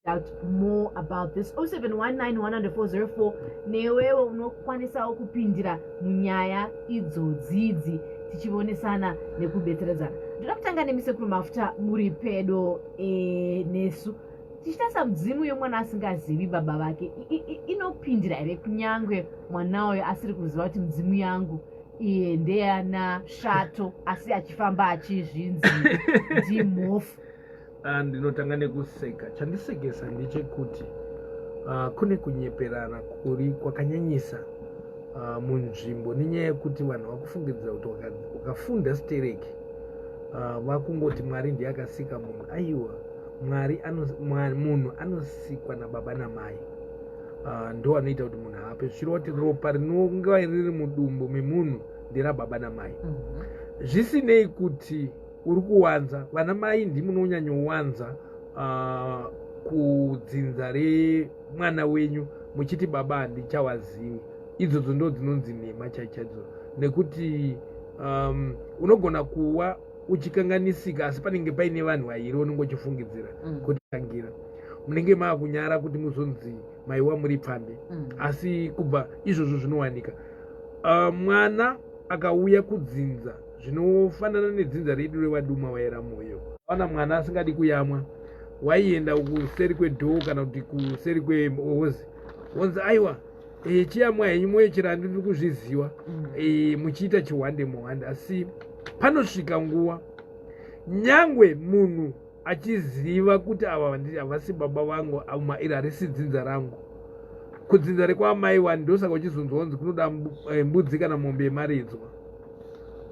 out more about this 07191040 newewo unokwanisawo kupindira munyaya idzodzidzi tichivonesana nekubetseredzana ndoda kutanga nemi sekuru mafuta muri pedo e, nesu tichitarisa mudzimu yomwana asingazivi baba vake inopindira here kunyange mwana uyo asiri kuziva kuti mudzimu yangu iye ndeyana shato asi achifamba achizvinzi ndimhofu Ah, ndinotanga nekuseka chandisekesa ndechekuti uh, kune kunyeperana kuri kwakanyanyisa uh, munzvimbo nenyaya yekuti vanhu vakufungidzira kuti ukafunda stereki uh, vakungoti mwari ndiye akasika munhu aiwa mwari munhu anosikwa nababa namai uh, ndo anoita kuti munhu ape zvichireva kuti ropa rinonga riri mudumbu memunhu nderababa namai mm -hmm. zvisinei kuti uri kuwanza vana mai ndimi unonyanyowanza uh, ah, kudzinza remwana wenyu muchiti baba handichawazivi idzodzo ndo dzinonzi nhema chaichaidzo nekuti um, unogona kuwa uchikanganisika asi panenge paine vanhu vairi unenge uchifungidzira mm. kuti tangira munenge maakunyara kuti muzonzi maiwa muri pfambi mm. asi kubva izvozvo zvinowanika uh, mwana akauya kudzinza zvinofanana nedzinza redu revaduma vaera mwoyo vana mwana asingadi kuyamwa waienda kuseri kwedhoo kana kuti kuseri kwehozi wonzi aiwa eh, chiyamwa henyu mwoyo chirandi tiri kuzviziva mm. eh, muchiita chihwande muhwande asi panosvika nguva nyangwe munhu achiziva kuti ava havasi baba vangu ama iri harisi dzinza rangu kudzinza rekwaamai wani ndosaka uchizonzwa kunzi kunoda eh, mbudzi kana mombe yemaridzwa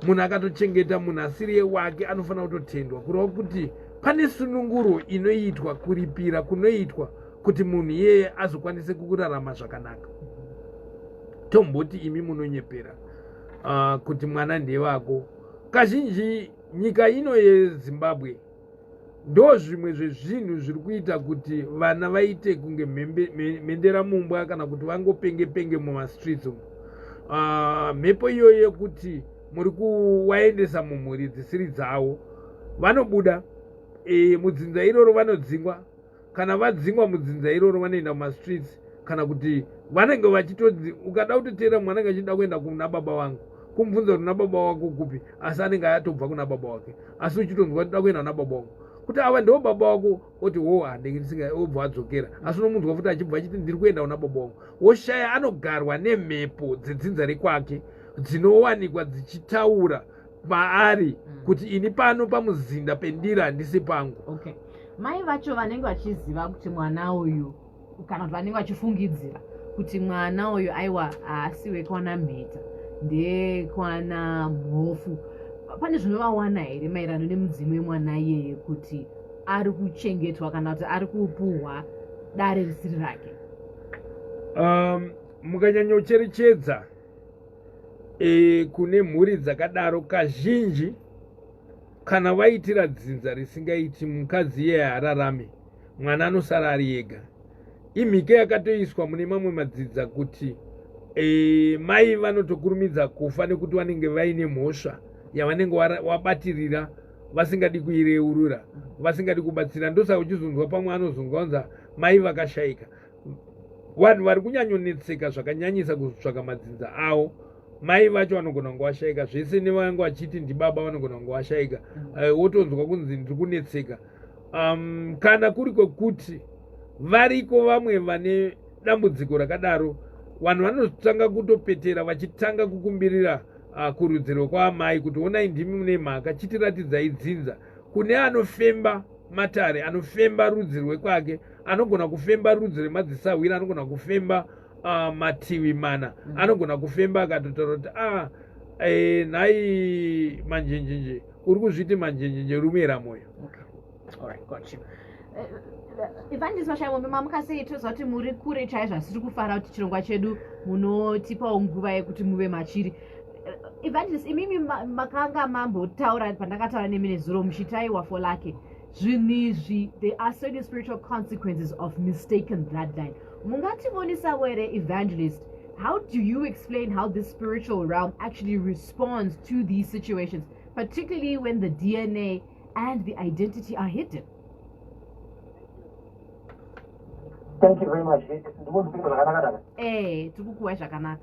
munhu akatochengeta munhu asiri yewake anofanira kutotendwa kureva kuti pane sununguro inoitwa kuripira kunoitwa kuti munhu iyeye azokwanise kurarama zvakanaka tomboti imi munonyepera uh, kuti mwana ndevako kazhinji Nyika ino yeZimbabwe ndo zvimwe zvezvinhu zviri kuita kuti vana vaite kunge mhendera mumbwa kana kuti vangopenge penge mumastreets umu ah, mhepo uh, iyoyo yekuti muri kuwaendesa mumhuri dzisiri dzavo vanobuda e, mudzinza iroro vanodzingwa kana vadzingwa mudzinza iroro vanoenda mumastreets kana kuti vanenge vachitodzi ukada kutoteera mwana anenge achida kuenda kuna baba vangu kumubvunza kuti nababa wako kupi asi anenge atobva kuna baba wake asi uchitonzwa toda kuenda kuna baba wako kuti ava ndiwo baba wako oti wo handinge ndisinga obva adzokera asi unomunzwa futi achibva achiti ndiri kuenda kuna baba wako woshaya anogarwa nemhepo dzedzinza rekwake dzinowanikwa dzichitaura maari mm. kuti ini pano pamuzinda pendira handisi pangu okay. mai vacho vanenge vachiziva kuti mwana uyu kana kuti vanenge vachifungidzira kuti mwana uyu aiwa haasi wekwana mheta ndekwana mhofu pane zvinovawana here maererano nemudzimu wemwana iyeye kuti ari kuchengetwa kana kuti ari kupuhwa dare risiri rake um, mukanyanyocherechedza e, kune mhuri dzakadaro kazhinji kana vaitira dzinza risingaiti mukadzi iye haararame mwana anosara ari ega imhike yakatoiswa mune mamwe madzidza kuti e, mai vanotokurumidza kufa nekuti vanenge vaine mhosva yavanenge wabatirira vasingadi kuireurura vasingadi kubatsira ndosaka uchizonzwa pamwe anozonzwa kunza mai vakashaika vanhu vari kunyanyonetseka zvakanyanyisa kuzotsvaka madzinza avo mai vacho vanogona kunge vashaika zvese nevange vachiti ndibaba vanogona kunge vashaika mm. eh, wotonzwa kunzi ndiri kunetseka um, kana kuri kwekuti variko vamwe vane dambudziko rakadaro vanhu vanotanga kutopetera vachitanga kukumbirira uh, kurudziro kwaamai kuti onai ndimi mune mhaka chitiratidzai dzinza kune anofemba matare anofemba rudzi rwekwake anogona kufemba rudzi remadzisahwira anogona kufemba uh, mativi mana mm -hmm. anogona kufemba akatotaura kuti ah, e, nhai manjenjenje uri kuzviti manjenjenje rumira mwoyo okay. right, got you. Uh, evangelist vashayombe mamuka sei toziva kuti muri kure chaizvo asi tiri kufara kuti chirongwa chedu munotipawo nguva yekuti muve machiri evangelist imimi makanga mambotaura pandakataura nemi nezuro muchitaiwa for lake zvinhu izvi there are certain spiritual consequences of mistaken bloodline mungativonisavo here evangelist how do you explain how this spiritual realm actually responds to these situations particularly when the dna and the identity are hidden thank you very much ndikukuwa zvakanaka eh tikukuwa zvakanaka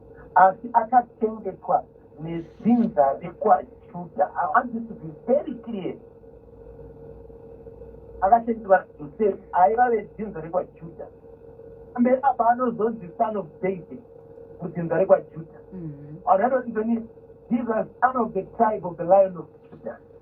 asi akachengetwa nedzinza rekwajuda i want this to be very clear akachengetwa josefu aiva vedzinza rekwajuda mberi apa anozonzi son of david mudzinza rekwajuda mm-hmm. vanhu vanoti ndoni jesus son of the tribe of the lion of judah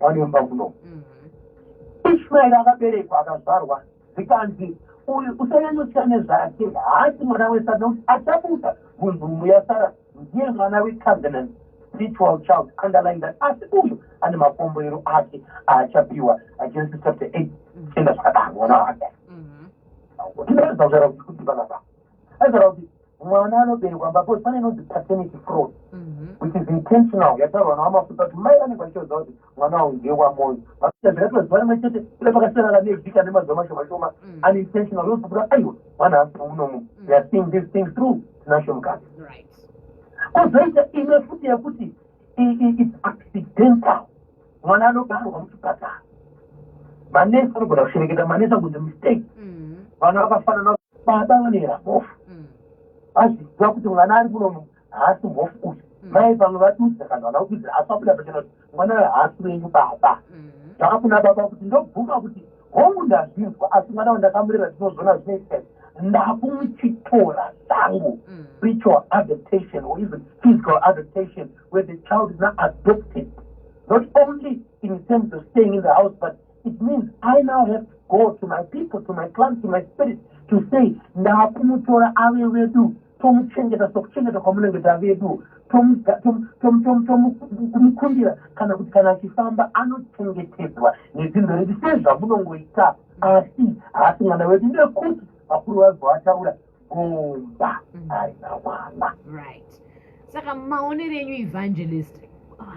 vanemba kuno mhm. ishmaeri akaberekwa akazvarwa zvikanzi uyu usanyanyotya nezvake haasi mwana wesara nokuti achabuda munhumu yasara ndiye mwana wecovenant spiritual child underline that asi uyu ane makomboero ake aachapiwa agenesis chapter eight mhm. enda zvakadaro mwana wake mhm. tinoedza kutaura kuti kuti vanabaa aitaura kuti mwana anoberekwa mbapo pane inonzi paternity fraud mhm. which is intentional yataurwa nawamafuta kuti mai vanenge vachitoziva kuti mwana wavo ndiye wamoyo vaita zvakatoziva rimwe chete ila pakasiyana ka nevhika nemazuva mashoma shoma mm. unintentional yozobuda aiwa mwana asi munomu mm. theyare seeing this thing through tinasho mukati kozoita imwe futi yekuti it's accidental mwana anobarwa muchipatara manesi anogona kushereketa manesi akunzi mistake mm-hmm. vana vakafanana baba vanoera mhofu mm. vazviziva kuti mwana ari kuno haasi mhofu uyu mm. mai vamwe vadudza kana vana kududza asi vabuda pachena kuti mwana uyo haasi wenyu baba mm. zvakafuna baba kuti ndobvuma kuti hongu ndazvinzwa asi mwana wandakamurera zvinozona zvinoita ndakumuchitora zvangu mm. spiritual adaptation or even physical adaptation where the child is now adopted not only in terms of staying in the house but it means i now have to go to my people to my clan to my spirit to say ndakumutora ave wedu tomuchengeta sokuchengeta kwamunenge tavedu tomukundira kana kuti kana achifamba anochengetedzwa nedzindo redi sezvamunongoita asi haasi mwana wedu nekuti vakuru vazovataura kumba mm. aina mwana right saka maonero enyu evangelist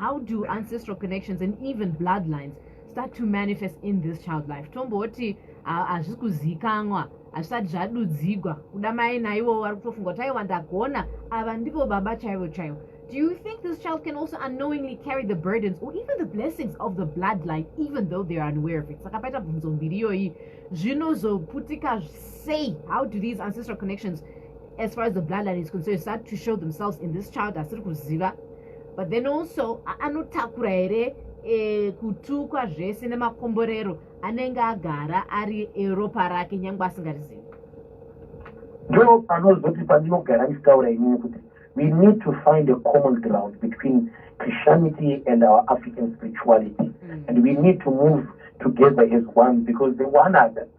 how do ancestral connections and even bloodlines start to manifest in this child life tomboti hazvisi kuzivikanwa hazvisati zvadudzigwa kuda mai naivo vari kutofunga kuti aiwa ndagona ava ndivo baba chaivo chaivo Do you think this child can also unknowingly carry the burdens or even the blessings of the bloodline even though they are unaware of it? Saka paita bvunzo mbiri iyoyi zvinozoputika sei how do these ancestral connections as far as the bloodline is concerned start to show themselves in this child asiri kuziva but then also anotakura here e, kutukwa zvese nemakomborero anenge agara ari eropa rake nyange asingarizivi ndo panozoti pandinogara ndichitaura inini kuti we need to find a common ground between christianity and our african spirituality mm. and we need to move together as one because the one other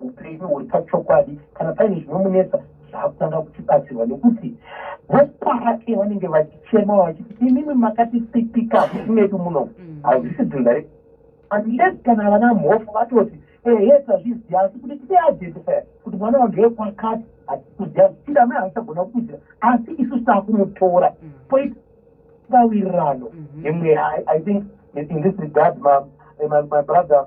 upenyu huri pachokwadi kana paine zvinomunetsa zvaakutanga kuchibatsirwa nekuti vopa ake vanenge vachichema vachiti imimi makatisipika musi medu muno mm. hazvisi dzinza re unless kana vana mhofu vatoti ehe tazviziva asi kuti tideadetifer kuti mwana wange kwakati hatikuziva zvichida mai haachagona kukuziva asi isu sitaakunotora mm. poit bawirirano mm-hmm. yemweya i think in this regard my, my, my brother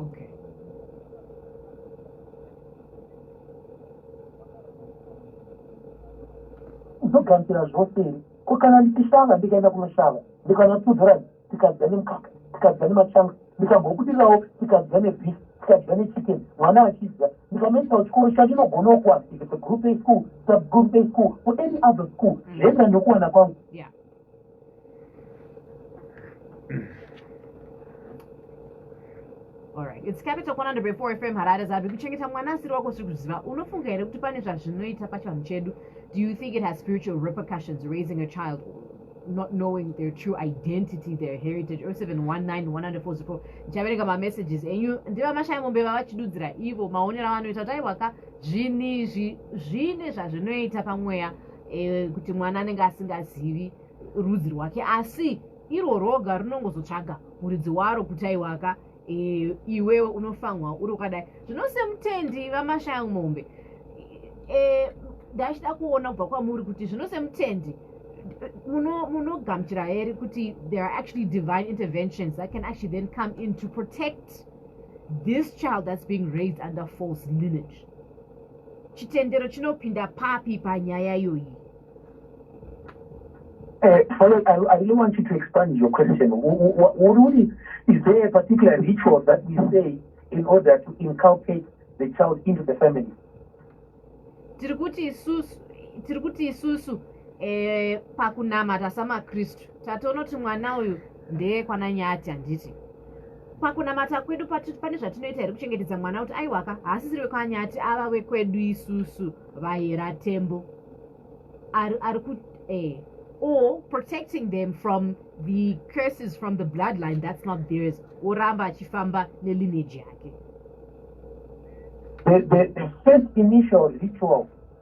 Okay. Uzogarisira zvose here? Ko kana ndichishava ndikaenda kunoshava ndikanotsudzura tikadya nemukaka tikadya nemachanga ndikambobudirirawo tikadya nebhisi tikadya nechicken mwana achidya ndikanoitawo chikoro chacho inogonawo kuwana if it's a group a school subgroup a school or any other school mm. zvenda nekuwana kwangu Alright, it's capital 104 FM Harare Zabi kuchengeta mwana asiri wako siri kuziva unofunga here kuti pane zvazvinoita pachivanhu chedu do you think it has spiritual repercussions raising a child not knowing their true identity their heritage 0719 ndichaverenga mamessages enyu ndivamashaya mombe vavachidudzira ivo maonero avanoita kuti aiwaka zvinhu izvi zvine zvazvinoita pamweya e, kuti mwana anenge asingazivi rudzi rwake asi iro roga rinongozotsvaga muridzi waro kuti aiwaka e, eh, iwewe unofanwa uri ukadai zvino semutendi vamashaya mombe e, ndachida kuona kubva kwamuri kuti zvino semutendi munogamuchira here kuti there are actually divine interventions that can actually then come in to protect this child that's being raised under false lineage chitendero chinopinda papi panyaya iyoyi Uh, follow, I, I really want you to expand your question. Ururi, is there a particular ritual that we say in order to inculcate the child into the family? tiri kuti isusu tiri kuti isusu eh, pakunamata samakristu tatonoti mwana uyu ndeyekwana nyati handiti pakunamata kwedu pane zvatinoita here kuchengetedza mwana kuti aiwaka haasisiri wekwanyati ava wekwedu isusu vahera tembo ari kuti eh, or protecting them from the curses from the bloodline that's not theirs oramba achifamba nelineage yake the, the, the first initial ritual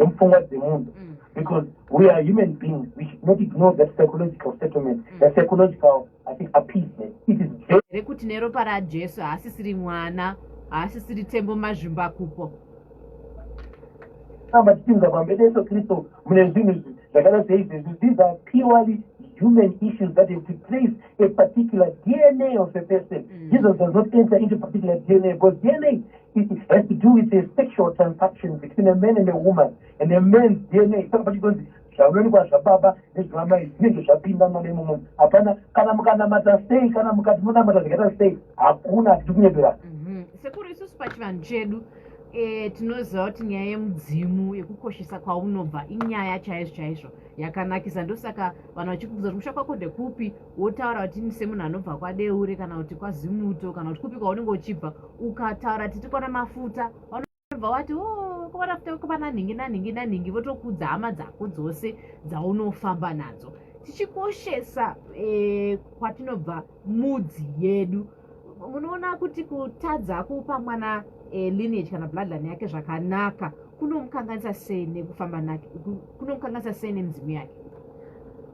nemupfungwa dzemunhu mm. because we are human beings we should not ignore that psychological settlement mm. the psychological i think appeasement it is here kuti neropa rajesu haasisiri mwana haasisiri tembo mazvimba kupo amba tichiunza pambe deso kristu mune zvinhu izvi zvakada seizvezvi these are purely human issues that have to place a particular dna of a person mm. jesus does not enter into particular dna because dna It has to do with a sexual transaction between a man and a woman and a man's DNA. Saka pachitonzi zvavanonikwa zvababa nezvamai zvinenge zvapinda mwana imomo hapana kana mukanamata sei kana mukati munamata zvakaita sei hakuna hatidi kunyebera mhm. sekuru isusu pachivanhu chedu eh, tinoziva kuti nyaya yemudzimu yekukoshesa kwaunobva inyaya chaizvo chaizvo yakanakisa ndosaka vanhu vachikubvunza kuti musha kwako ndekupi wotaura kuti ini semunhu anobva kwadeure kana kuti kwazimuto kana kuti kupi kwaunenge uchibva ukataura titi kwana mafuta vanobva wati o oh, kwana futa kwana nhingi nanhingi nanhingi votokudza hama dzako dzose dzaunofamba nadzo tichikoshesa e, kwatinobva mudzi yedu munoona kuti kutadza kupa mwana e, lineage kana bloodline yake zvakanaka kunomukanganisa sei nekufamba nake kunomukanganisa sei nemidzimu yake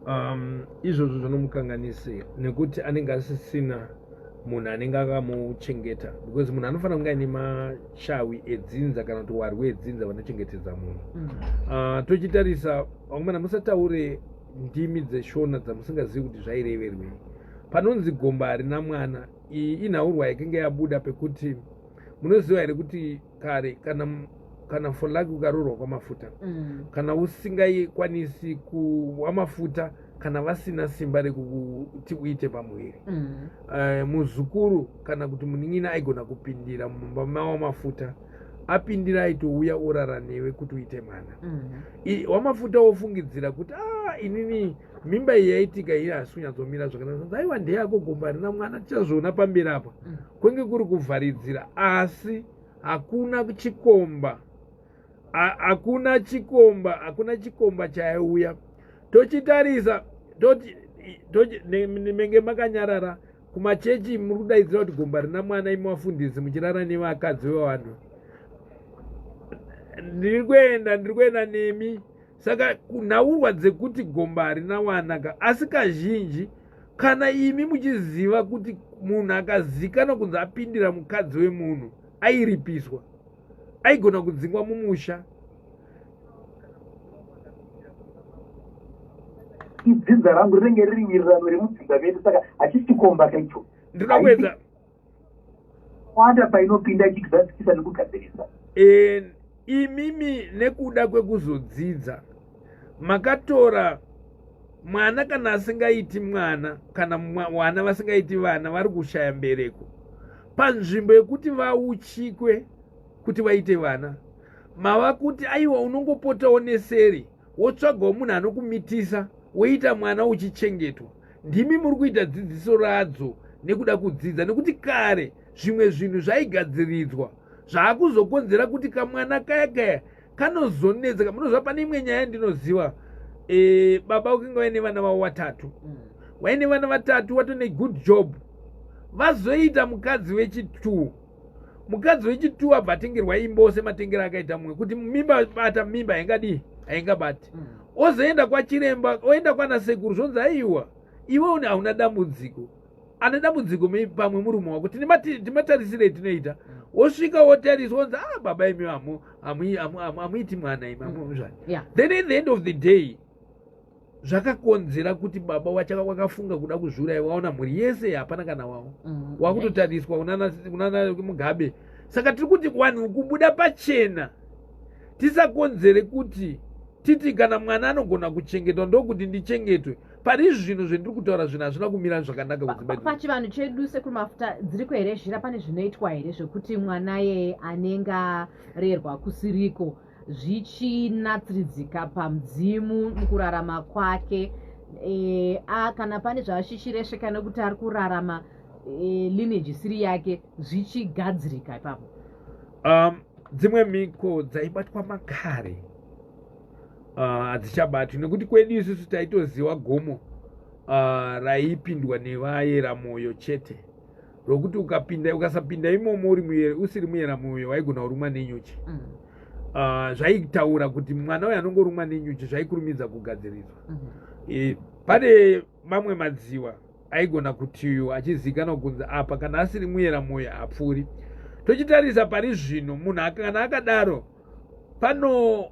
um, izvozvo zvinomukanganise nekuti anenge asisina munhu anenge akamuchengeta because munhu anofanira kunge aine mashawi edzinza kana kuti warwi edzinza vanochengetedza munhu mm. uh, tochitarisa vamwe mana musataure ndimi dzeshona dzamusingazivi kuti zvaireverwei panonzi gomba harina mwana iyi inhaurwa yakinge yabuda pekuti munoziva here kuti kare kana kana folaki ukaroorwa kwamafuta mm. kana usingaikwanisi kuwa mafuta kana vasina simba rekuti uite pamuviri mm. eh, muzukuru kana kuti munin'ina aigona kupindira mumba mawo mafuta apindira aitouya orara newe kuti uite mwana mhm. wamafuta wofungidzira kuti a ah, inini mimba iyi yaitika iri hasi kunyatsomira zvakanaka aiwa ndeyako gomba rina mwana tichazviona pamberi apa mm. kwenge kuri kuvharidzira asi hakuna chikomba hakuna chikomba hakuna chikomba chaiuya tochitarisa menge makanyarara kumachechi muri kudaidzira kuti gomba rina mwana imi vafundisi muchirara nevakadzi vevanhu ndiri kuenda ndiri kuenda nemi saka kunhaurwa dzekuti gomba harina wana ka asi kazhinji kana imi muchiziva kuti munhu akazikana kunzi apindira mukadzi wemunhu airipiswa aigona kudzingwa mumusha idzinza rangu rinenge riri wirirano remudzinza vedu saka hachisikomba kaicho ndinoda kuedza kwanda painopinda ichigadzikisa nekugadzirisa imimi nekuda kwekuzodzidza makatora mwana kana asingaiti mwana kana vana vasingaiti vana vari kushaya mbereko panzvimbo yekuti vauchikwe kuti vaite vana mava kuti aiwa unongopotawo neseri wotsvagawo munhu anokumitisa woita mwana uchichengetwa ndimi muri kuita dzidziso radzo nekuda kudzidza nekuti kare zvimwe zvinhu zvaigadziridzwa zvaakuzokonzera kuti kamwana kaya kaya kanozonetseka munozva pane imwe nyaya ndinoziva e, baba ukinge vaine vana vavo vatatu mm. waine vana vatatu watone good job vazoita mukadzi wechitu mukadzi wechitu abva atengerwa imba ose matengero akaita mumwe kuti mimba bata mimba haingadii haingabati mm. ozoenda kwachiremba oenda kwana sekuru zvonzi aiwa iwe une hauna dambudziko ane dambudziko maybe pamwe murume wako timatarisirei tinoita wosvika wotariswa onzi ah baba imi hamuiti mwana imi amuzvani mm. then at the end of the day zvakakonzera kuti baba wachaka wakafunga kuda kuzviuraya waona mhuri yese hapana kana wavo mm. wakutotariswa unana mugabe saka tiri kuti vanhu kubuda pachena tisakonzere kuti titi kana mwana anogona kuchengetwa ndokuti ndichengetwe pari izvi zvinhu zvendiri kutaura zvinhu hazvina kumira zvakanaka kuzibapachivanhu chedu sekuru mafuta dziriko here zhira pane zvinoitwa here zvekuti mwana yeye anenge arerwa kusiriko zvichinatsiridzika pamudzimu mukurarama kwake e, a kana pane zvaashishiresveka nekuti ari kurarama e, lineage isiri yake zvichigadzirika ipapo um, dzimwe mhiko dzaibatwa makare ah, hadzichabati uh, nekuti kwedu isusu taitoziwa gomo uh, raipindwa nevayera mwoyo chete rokuti ukapinda ukasapinda imomo uri muyera, usiri muyera mwoyo waigona kurumwa nenyuchi mm. uh, zvaitaura kuti mwana uyo anongorumwa nenyuchi zvaikurumidza kugadziridzwa mm -hmm. e, pane mamwe madziwa aigona kuti uyu achizivikanwa kunzi apa kana asiri muyera mwoyo hapfuuri tochitarisa pari zvino munhu kana akadaro pano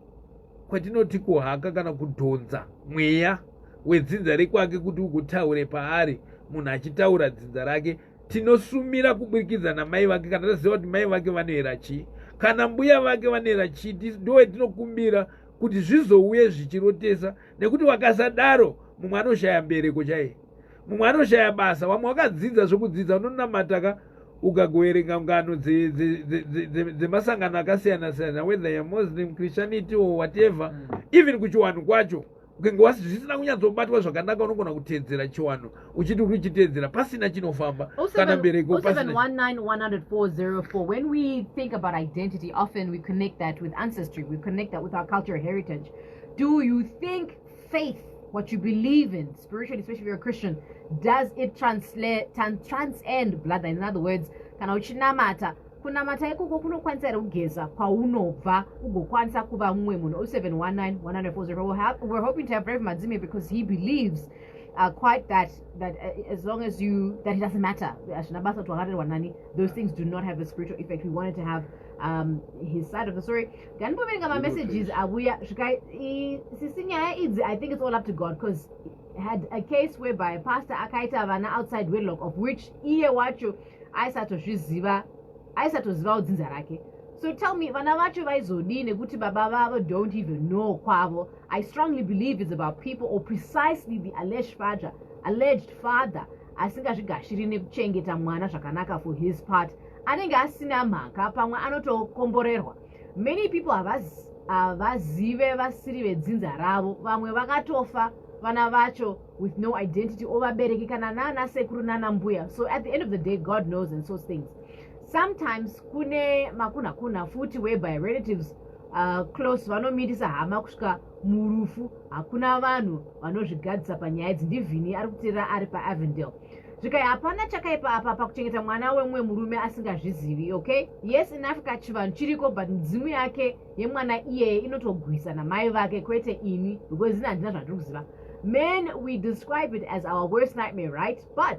kwatinoti kuhaka kana kudhonza mweya wedzinza rekwake kuti ukutaure paari munhu achitaura dzinza rake tinosumira kuburikidza namai vake kana taziva kuti mai vake vanoera chii kana mbuya vake vanoera chii ndowe tinokumbira kuti zvizouye zvichirotesa nekuti wakasadaro mumwe anoshaya mbereko chaiye mumwe anoshaya basa vamwe wakadzidza zvekudzidza unonamata ka ukagoverenga ngano dzemasangano akasiyana siyana whether yamuslim christianity or whatever mm. even kuchiwanhu kwacho ukenge wasi zvisina kunyatsobatwa zvakanaka unogona kutedzera chiwanhu uchiti uri kuchitedzera pasina chinofamba oh kana mbereko oh when we think about identity often we connect that with ancestry we connect that with our cultural heritage do you think faith what you believe in spiritually especially if you're a christian does it translate transcend blood in other words kana uchinamata kunamata ikoko kunokwanisa here kugeza kwaunobva ugokwanisa kuva mumwe munhu 0719 100 we're hoping to have brave madzime because he believes uh, quite that that uh, as long as you that it doesn't matter those things do not have a spiritual effect we wanted to have um, his side of the story nganipoverenga mamessages avuya svika sisi nyaya idzi i think it's all up to god because had a case whereby pastor akaita vana outside wedlock of which iye wacho aisatozviziva aisatoziva udzinza rake so tell me vana vacho vaizodii nekuti baba vavo don't even know kwavo i strongly believe is about people or precisely the alleged father alleged father asingazvigashiri nekuchengeta mwana zvakanaka for his part anenge asina mhaka pamwe anotokomborerwa many people havazive vasiri vedzinza ravo vamwe vakatofa vana vacho with no identity or vabereki kana nana sekuru nana mbuya so at the end of the day god knows and so things sometimes kune makunhakuna futi whereby relatives uh, close vanomirisa hama kusvika murufu hakuna vanhu vanozvigadzisa panyaya idzi ndivhini ari kuteerera ari paavendale zvikai hapana chakaipa apa pakuchengeta mwana wemumwe murume asingazvizivi okay yes in africa chivanhu chiriko but midzimu yake yemwana iyeye inotogwisa namai vake kwete ini because ini handina zvandiri kuziva men we describe it as our worst nightmare right but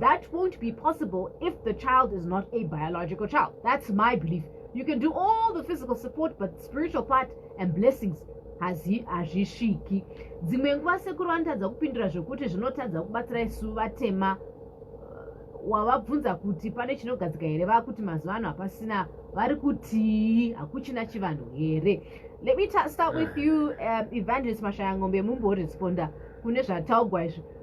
that won't be possible if the child is not a biological child. That's my belief. You can do all the physical support, but spiritual part and blessings hazvisviki dzimwe nguva sekuru vanotadza kupindura zvekuti zvinotadza kubatsira isu vatema uh, wavabvunza kuti pane chinogadzika here vakuti mazuva ano hapasina vari kutii hakuchina chivanhu here let me start with you um, evangelist mashaya ngombe mumboresponda kune zvataugwa izvi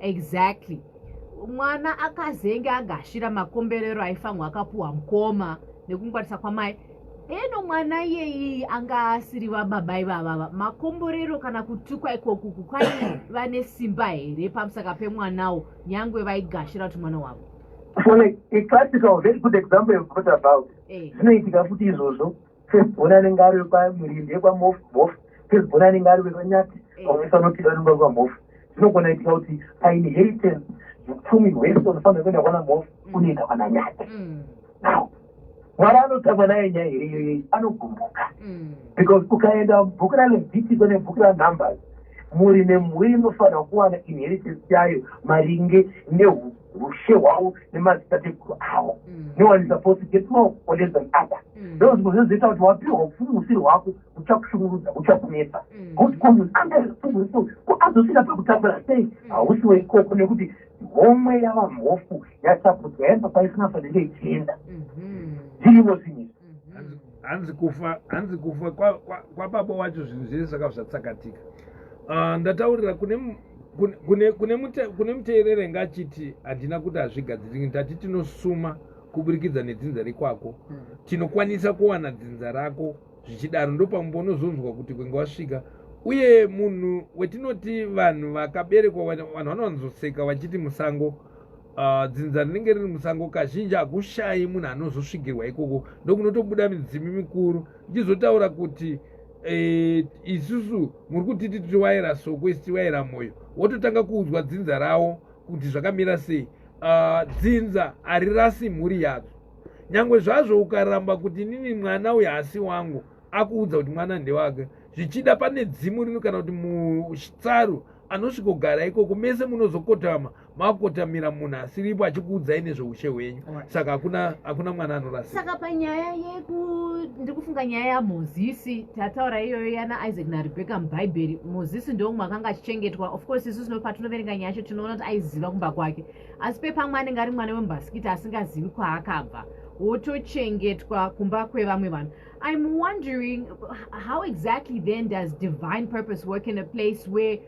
exactly mwana akazenge agashira makomberero aifanwa akapuwa mukoma nekungwarisa kwamai eno mwana iyeyi anga asiri vababa ivavava makomborero kana kutukwa ikoku kukwai vane simba here pamusaka pemwanawo nyangwe vaigashira kuti mwana wavo zvinoitika futi izvozvo first born anenge ari wekwamurindi ekwamofu bofu first born anenge ari wekwanyati pamwese eh. anotida anenge ari kwamofu zvinogona itika kuti painheritance upfumi hwese unofanira kuenda kwana mofu mm. unoenda kwana nyati mm. now mwari anotamba naye nyaya here iyoyei anogumbuka mm. because ukaenda bhuku ralevitiko nebhuku ranumbers muri nemhuri inofanira kuwana inheritance yayo maringe neuku ushe hwavo nemadzitateguru avo mm. no one is supposed to get more or less than other mm. those zvinhu zvizoita kuti wapiwa upfumi usiri hwako uchakushungurudza uchakunetsa mm. god comes under responsible so ko azosvika pakutambura sei hausi weikoko nekuti homwe yavamhofu yatapudzwa yaenda kwaisina fanenge ichienda mm-hmm. zvirimo zvinhu mhm. hanzi kufa hanzi kufa kwababa kwa, wacho zvinhu zvese zvaka zvatsakatika uh, ndataurira kune kune, kune, kune, mute, kune muteerere ngachiti handina kuti hazvigadziriki ndati tinosuma kuburikidza nedzinza rekwako mm. tinokwanisa kuwana dzinza rako zvichidaro ndopamumba unozonzwa kuti kwenge wasvika uye munhu wetinoti vanhu vakaberekwa vanhu vanowanzoseka vachiti musango Uh, dzinza rinenge riri musango kazhinji hakushayi munhu anozosvigirwa ikoko ndokunotobuda midzimu mikuru ndichizotaura kuti Eh, isusu muri kuti titi waira soko isi tiwaira mwoyo wototanga kuudzwa dzinza rawo kuti zvakamira sei ah, dzinza harirasi mhuri yadzo nyange zvazvo ukaramba kuti inini mwana uyo hasi wangu akuudza kuti mwana ndewake zvichida pane dzimu rino kana kuti mutsaru anosvikogara ikoko mese munozokotama makotamira munhu asiripo achikuudzai nezveushe hwenyu saka hakuna hakuna mwana anorasa saka panyaya yeku ndiri kufunga nyaya yamozisi tataura iyoyo yana isaac narebecca mubhaibheri mozisi ndomwe akanga achichengetwa of course isu sinofa tinoverenga nyaya yacho tinoona kuti aiziva kumba kwake asi pepamwe anenge ari mwana wemubhasikiti asingazivi kwaakabva wotochengetwa kumba kwevamwe vanhu i'm wondering how exactly then does divine purpose work in a place where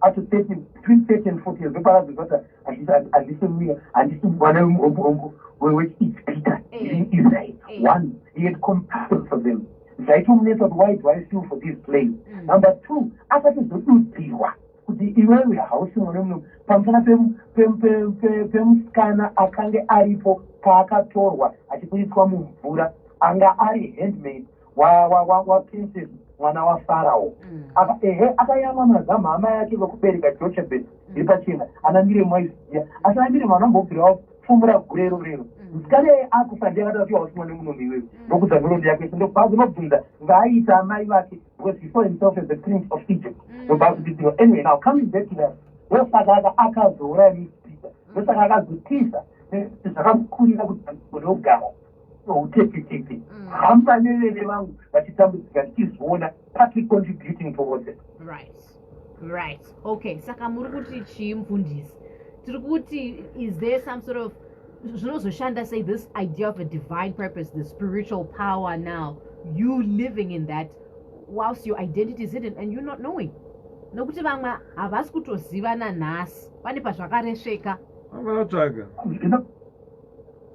up to 30 between 30 and 40 years ndoparadza zvata handisi muya handisi mwana wechipita in israel one he had compassion for them zvaitomunetsa kuti why do i feel for this place mm. number two asatizodudzirwa kuti iwewe hausi mwana muno pamusana pemusikana akange aripo paakatorwa achibudiswa mumvura anga ari handmade waprincess mwana wafarao mm. ehe akayamwa mazama hama yake vekubereka jochebet mm. iri pachena ana miremu aiziya asi ana miremu anambobvirawo fumura gurero rero mm. musikana iye akufa ndiye akati atiwa wasimwa nemunomi iwewe ndokudza nhoroondo yake ndokubva kunobvunza ngaaita amai vake because he saw himself as the prince of egypt ndokubva kutiiwa anyway now coming back to that ndosaka aka akazouraya misipita ndosaka akazotisa zvakamukurira kuti anogara noutetetete mm. hamba nevene vangu vachitambudzika ndichizviona patrick contributing towards it right right okay saka muri kuti chii mfundisi tiri kuti is there some sort of zvinozoshanda say this idea of a divine purpose the spiritual power now you living in that whilst your identity is hidden and you not knowing nokuti vamwe havasi kutozivana nhasi pane pazvakaresveka vakatsvaga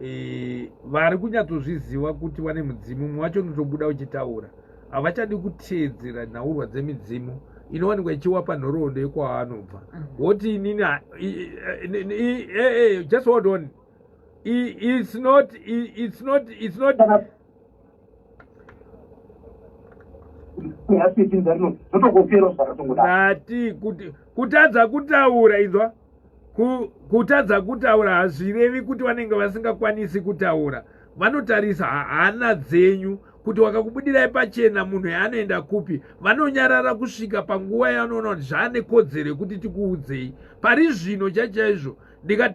e, vari kunyatsozviziva kuti vane mudzimu mumwe wacho unotobuda uchitaura havachadi kuteedzera nhaurwa dzemidzimu inowanikwa ichiwapa nhoroondo yekwaanobva mm. woti inini just hold on it's not it's not it's not nati kutadza kutaura inzwa kutadza kutaura hazvirevi kuti vanenge vasingakwanisi kutaura vanotarisa hana dzenyu kuti wakakubudirai pachena munhu yaanoenda kupi vanonyarara kusvika panguva yanoona kuti zvaane kodzero yekuti tikuudzei pari zvino chachaizvo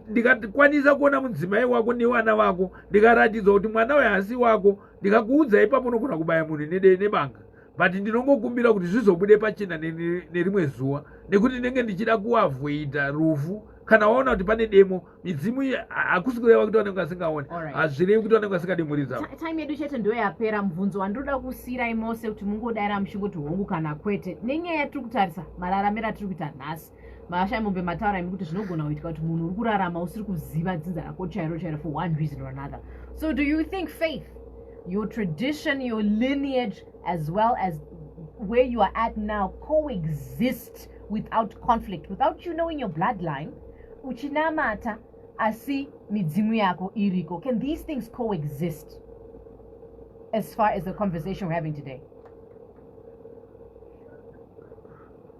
ndikakwanisa kuona mudzimai wako nevana vako ndikaratidza kuti mwana uyo haasi wako ndikakuudza ipapo unogona kubaya munhu nedei nebanga but ndinongokumbira kuti zvizobude pachena nerimwe zuva nekuti ndinenge ndichida kuavoida rufu kana waona kuti pane demo midzimu iyi hakusi kureva kuti vanenge vasingaone hazvirevi kuti vanenge vasingadi mhuri dzavo time yedu chete ndo yapera mubvunzo wandinoda kusiyirai mose kuti mungodaira muchingoti hongu kana kwete nenyaya yatiri kutarisa mararamiro atiri kuita nhasi mahasha emombe mataura imi kuti zvinogona kuitika kuti munhu uri kurarama usiri kuziva dzinza rako chairo chairo for one reason or another so do you think faith your tradition your lineage as well as where you are at now coexist without conflict without you knowing your bloodline uchinamata asi midzimu yako iriko can these things coexist as far as the conversation we're having today